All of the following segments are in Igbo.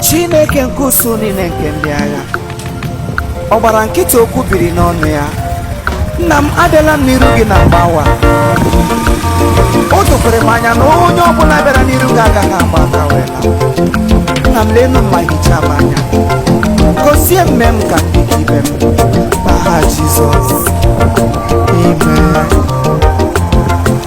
chineke nke usuu niile nke ndị agha ọ gbara nkịtị okwu biri n'ọnụ ya nna m abịala m n'iru gị na mgbawa o dokwere m anya na onye ọbụla bịara n'iru gị agaghị agba aka wee laa. nna m lenụ m ma hichaa m anya gozie m mee m ka m dị ka ibe m n'aha jizọs amen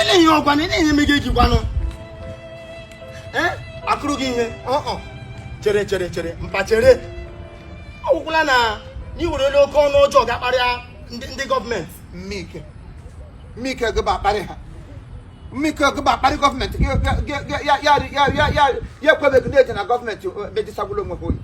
ele ihe ọgwa na ihe eme gị gwanụ akụrụ gị ihe chere chere chere mpa chere ọ wụkwala na i werele oke ọnụ ọjọọ ga-akparịa ndị gọọmenti mmike mmike gịba akparị ha mmike gịba akparị gọọmenti ya ekwebeghị na-eje na gọọmenti mejisagwụla onwe ha oyi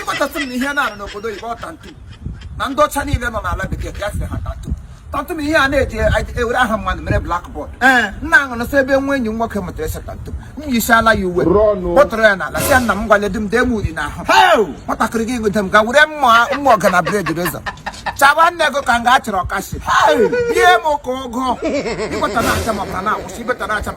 ịkpọtasị m na ihe na-arụ n'obodo oyibo ọ tantu na ndị ọcha niile nọ n'ala bekee ya sị ha tantu tantu na ihe a na-eji ewere aha mmadụ mere blackboard nna ahụ nọ sọ ebe nwa enyi m nwoke mụtara ese tantu m yisiala ya uwe kpọtụrụ ya n'ala sị ya nna m gwale di m dee m uri n'ahụ nwatakịrị gị nweta m ga were mma mma ọga na blade razor chaba nne gị ka nga a chara ọkashi bie m ka ụgụ ịkpọta na-acha m ọbara na-awụsị ibeta na-acha m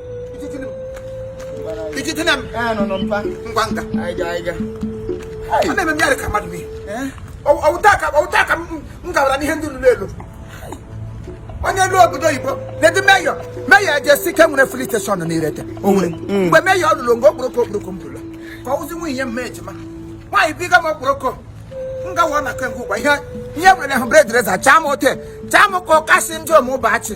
ijitene m ngwa nga ọ na-eme mmadụ ka mmadụ n'ihe ọ wụ taa ka m gawara n'ihe ndị lụrụ elu onye elu obodo oyibo na-edu meyọ meyọ ejesike nwere filling station n'irete o nwere mgbe meyọ lụrụ mgbe okporoko okporoko m bụrụla ka ọ wụzi nwunye m ejima nwaanyị biga m okporoko m gawa na kengwa ụgwa ihe ihe nwere hụ blade razor chaa m ote chaa m ka ọkasị ndị omụbachi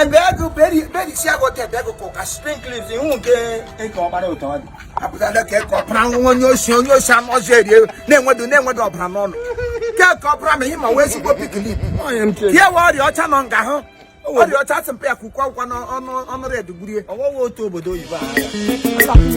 ebe ego berisi agwọta ebe ego ka sprinkles ihu nke eke ọgbara ụtọ ọ dị apụtala ka eke ọbara nwa onye osi onye osi amọzi erie na-enwedo na-enwedo ọbara n'ọnụ ka eke ọbara ma ihe ma wee ezigbo pink lip ya we ọrịa ọcha nọ nga hụ ọrịa ọcha asị mpe ya ka ukwe akwụkwọ n'ọnụ ọnụ red gburie ọwọwa otu obodo oyibo ahụ